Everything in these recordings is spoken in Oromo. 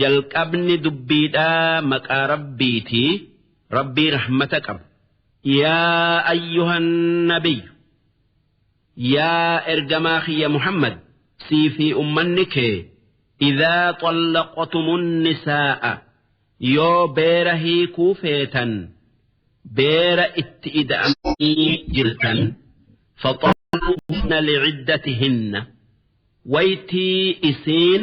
jalqabni dubbiidhaa maqaa rabbiitii rabbii rahmata qabu yaa ayyuhan nabiyyu yaa ergamaa kiyya muhammad sii fi ummanni kee idaa xallaqtumun nisaa'a yoo beera hiikuu feetan beera itti ida'amanii jirtan faxalluhunna liciddatihinna waytii isiin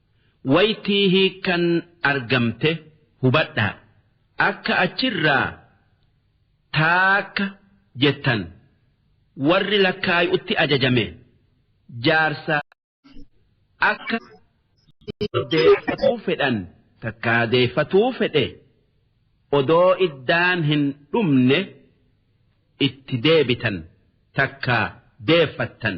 waytii hiikkan argamte hubadhaa. Akka achirraa taakka jettan warri lakkaayu'utti ajajame jaarsa akka isii deeffatuu fedhan takkaa deeffatuu fedhe odoo iddaan hin dhumne itti deebitan takkaa deeffattan.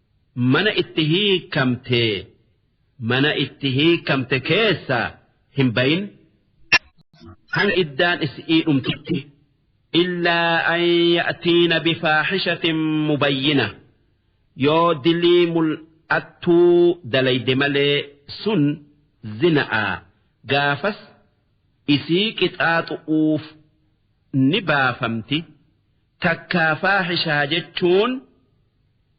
mana itti hiikamte mana itti hiikamte keessaa hin bayin hanga iddaan isi'ii dhumtutti illaa an ya'tiina bifaaxishatin mubayyina yoo dilii mul'attuu dalayde malee sun zina'a gaafas isii qixaaxu'uuf ni baafamti Takkaa faahishaa jechuun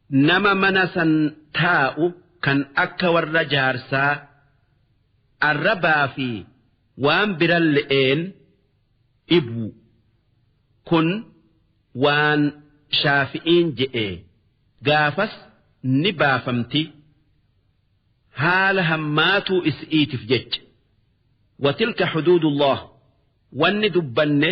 nama mana san taa'u kan akka warra jaarsaa arrabaa fi waan biralle'een dhibu. Kun waan shaafi'iin je'e gaafas ni baafamti haala hammaatuu is'iitiif jecha. Watilka huduudullah wanni dubbanne.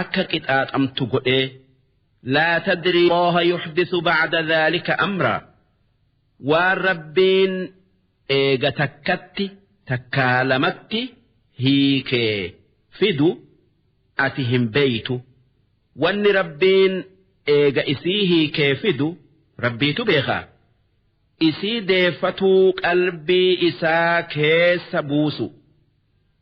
akka qixaaxamtu godhee laa tadrii allaha yuxdisu bacda dhaalika amraa waan rabbiin eega takkatti takkaa lamatti hiikee fidu ati hin beeytu wanni rabbiin eega isii hiikee fidu rabbiitu beekaa isii deeffatuu qalbii isaa keessa buusu.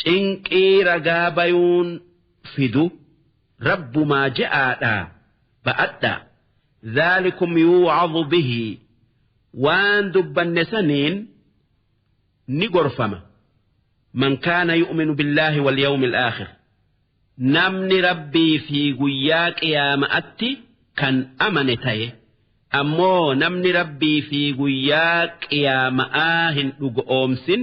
Cinqii ragaa bayuun fidu Rabbumaa je'aadhaa ba'adhaa. Zaalikum yuu'adhu bihii waan dubbanne saniin ni gorfama. Man kaana yu'minu billaahi wal yawmil aakhir. Namni rabbii fi guyyaa qiyaama'atti kan amane taye. Ammoo namni rabbii fi guyyaa qiyaama'aa hin dhugo'oomsin.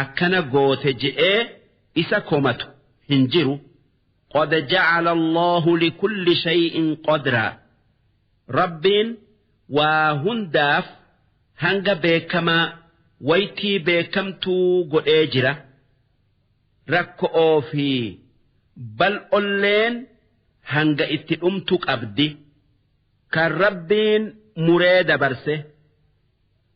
akkana goote je'ee isa komatu hin jiru qad jacala allaahu likulli shay'in qadraa rabbiin waa hundaaf hanga beekamaa waytii beekamtuu godhee jira rakko'oo fi bal'olleen hanga itti dhumtu qabdi kan rabbiin muree dabarse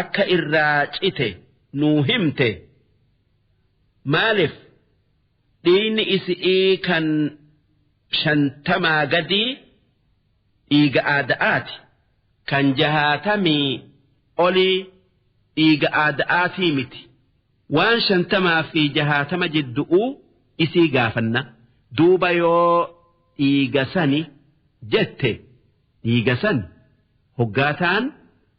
akka irraa cite nuu himte maalif dhiiyni isi'ii kan shantamaa gadii dhiiga aada'aati kan jahaatamii olii dhiiga aada'aatii miti waan shantamaa fi jahaatama jiddu'uu isii gaafanna duuba yoo dhiiga sani jette dhiiga san hoggaataan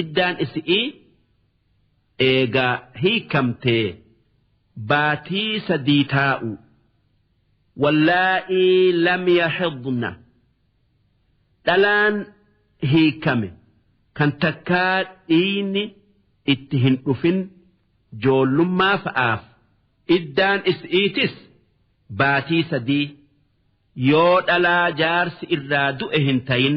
iddaan isi'ii eegaa hiikamtee baatii sadii taa'u wallaa'ii lam yaxidna dhalaan hiikame kan takkaa dhiiyni itti hin dhufin joollummaa fa'aaf iddaan isi'iitis baatii sadii yoo dhalaa jaarsi irraa du'e hin tayin.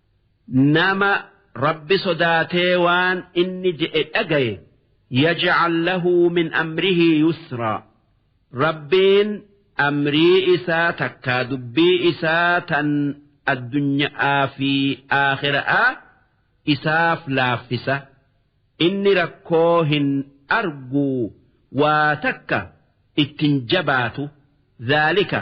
Nama Rabbi sodaatee waan inni je'e dhagaye yaj'al lahu min amrihi yusraa. Rabbiin amrii isaa takkaa dubbii isaa tan addunya'aa fi aakhira'aa isaaf laaffisa. Inni rakkoo hin arguu waa takka ittin jabaatu. Dhaalika.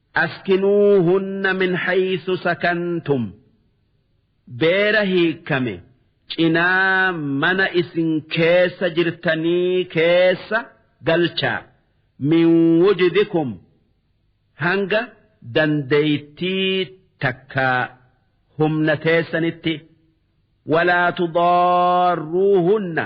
Askinuuhunna min haysu sakantum beera hiikkame cinaa mana isin keessa jirtanii keessa galchaa min wujdikum hanga dandeeytii takkaa humna teessanitti walaa tudaarruuhunna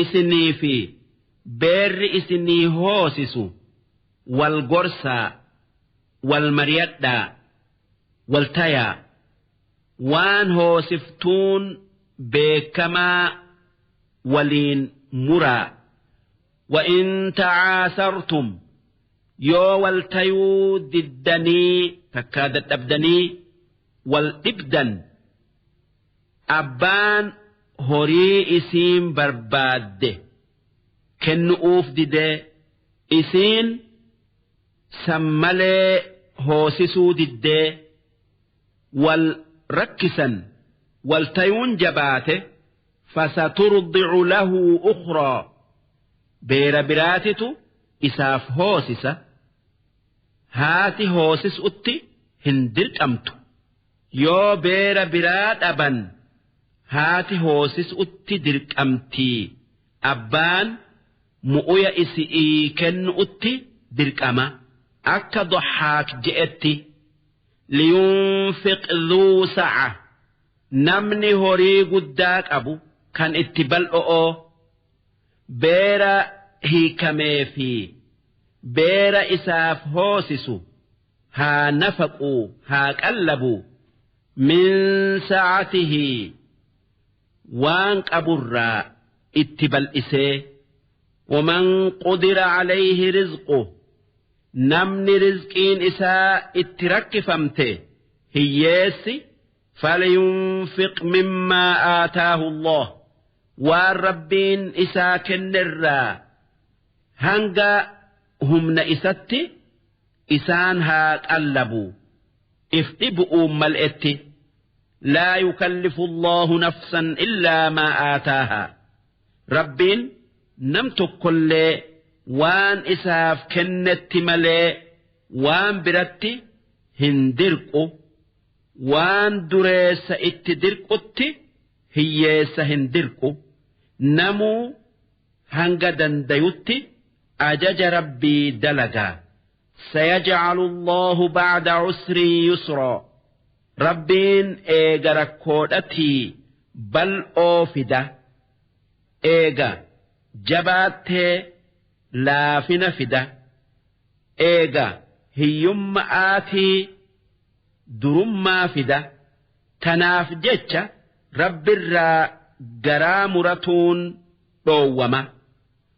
Isinii fi beerri isinii hoosisu wal gorsaa, wal mariyadhaa, wal tayaa. Waan hoosiftuun beekkamaa waliin muraa. Wa'in ta'aasartum yoo wal tayuu diddanii takkaa dadhabdanii wal dhibdan. abbaan horii isiin barbaadde kennu'uuf didee isiin san malee hoosisuu diddee wal rakkisan wal tayuun jabaate fasaturdicu lahu ukhraa beera biraatitu isaaf hoosisa haati hoosisutti hin dirqamtu Yoo beera biraa dhaban haati hoosisu'utti dirqamtii, abbaan mu'uya isi'ii kennu'utti dirqama. Akka Dohhaak je'etti, Liyunfiq dhuu sa'a, Namni horii guddaa qabu kan itti bal'o'oo, beera hiikamee fi beera isaaf hoosisu, haa nafaqu haa qallabu min sa'atihi waan qaburraa itti bal'isee waman qudira alayhi rizqu namni rizqiin isaa itti rakkifamte hiyyeessi falyunfiq mimmaa aataahu allah waan rabbiin isaa kennerraa hanga humna isatti isaan haa qallabu if dhibu'uun mal'etti laa yukallifu Allaahu nafsan illaa maa aataahaa Rabbiin nam tokkollee waan isaaf kennetti malee waan biratti hin dirqu waan dureessa itti dirqutti hiyyeessa hin dirqu namuu hanga dandayutti Ajaja Rabbii dalagaa. Sayajcalu Allaahu bacda cusrin yusraa. Rabbiin eega rakkoodhatii bal'oo fida. Eega jabaattee laafina fida. Eega hiyyumma'aatii durummaa fida. Tanaaf jecha Rabbirraa garaa muratuun dhoowwama.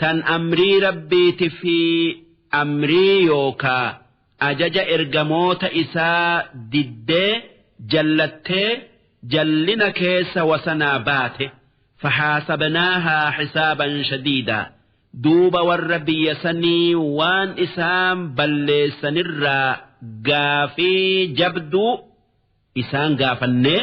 tan amrii Rabbiiti fi amrii yookaa ajaja ergamoota isaa diddee jallattee jallina keessa wasanaa baate fahaasabnaahaa hisaaban shadiidaa duuba warra biyya sanii waan isaan balleessanirraa gaafii jabduu isaan gaafannee